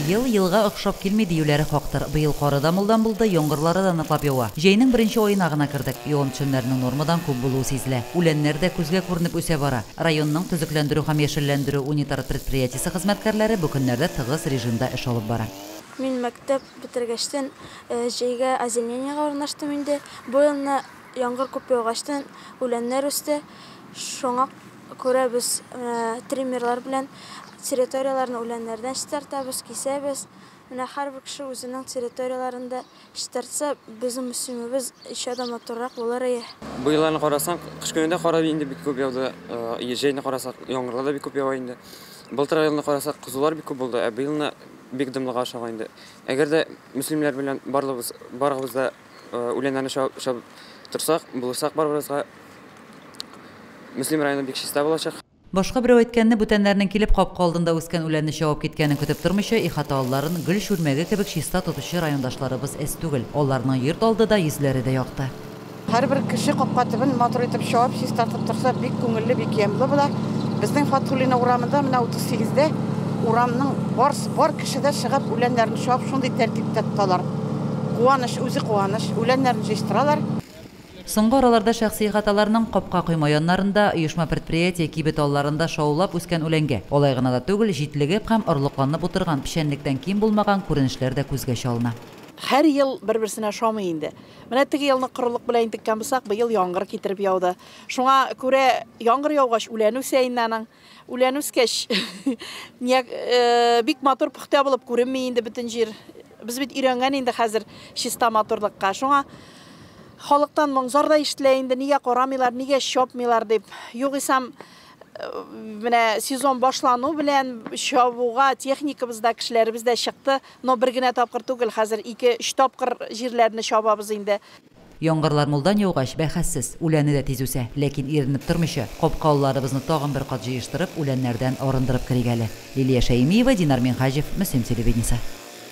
Ел елга охшап килми диюләре хактыр. Быел кары да мулдан булды, яңгырлары да ныклап ява. Җәйнең беренче аена гына кердек. Явым-төшемнәрнең нормадан күп булуы сизелә. Үләннәр дә күзгә күренеп үсә бара. Районның Төзекләндерү һәм яшелләндерү унитар предприятиесе хезмәткәрләре бу көннәрдә тыгыз режимда эш алып бара. Мин мәктәп бетергәчтен җәйгә озимлениегә урнаштым инде. Бу елны яңгыр күп яугачтын, үләннәр үсте. Шуңа. Күрәбез, менә триммерлар белән территорияләрне үләннәрдән чистартабыз, кисәбез. Менә һәрбер кеше үзенең территорияләрен дә чистартса, безнең Мөслимебез еще да матуррак булыр ие. Бу елларны карасак, кыш көне дә кар инде бик күп яуды, җәйне карасак, яңгырлар да бик күп ява инде. Былтыр елны карасак, кызулар бик күп булды, ә быелны бик дымлыга ошаган инде. Әгәр дә мөслимнәр белән барлыгыбыз, барыгыбыз да үләннәрне чабып чабып торсак, булышсак барыбызга, Мөслим районы бик чиста булачак. Башка берәү әйткәнне, бүтәннәрнең килеп капка алдында үскән үләнне чабып киткәнен көтеп тормыйча, ихата алларын гөл чүлмәге кебек чиста тотучы райондашларыбыз әз түгел. Аларның йорт алды да, йөзләре дә якты. Һәрбер кеше капка төбен матур итеп чабып, чистартып торса, бик күңелле, бик ямьле була. Безнең Фатхуллина урамында, менә 38 дә урамның барс бар Кешедә чыгып, үләннәрен чуап, шундый тәртиптә тоталар. Куаныч, үзе куаныч. Үләннәрен җыештыралар. Соңгы араларда шәхси ихаталарның капка койма яннарында, оешма-предприятие кибет алларында шаулап үскән үләнгә, алай гына да түгел, җитлегеп һәм орлыкланып утырган печәнлектән ким булмаган күренешләр дә күзгә чалына. Һәр ел бер-берсенә ошамый инде. Менә теге елны корылык белән интеккән булсак, быел яңгыр китереп яуды. Шуңа күрә яңгыр яугач, үлән үсә инде аның. Үлән үскәч, нияк, э, бик матур пөхтә булып күренми инде бөтен җир. Без бит өйрәнгән инде хәзер чиста матурлыкка. Шуңа халыктан моңзар да ишетелә инде, нигә карамыйлар, нигә чапмыйлар дип. Югыйсам, э, менә сезон башлану белән чабуга техникабыз да, кешеләребез дә чыкты. Но бер генә тапкыр түгел, хәзер ике-өч тапкыр җирләрне чабабыз инде. Яңгырлар мулдан яугач, бәхәссез, үләне дә тиз үсә. Ләкин иренеп тормыйча, капка алларыбызны тагын бер кат җыештырып, үләннәрдән арындырып керик әле. Лилия Шәймиева, Динар Минһаҗев, Мөслим телевидениесе.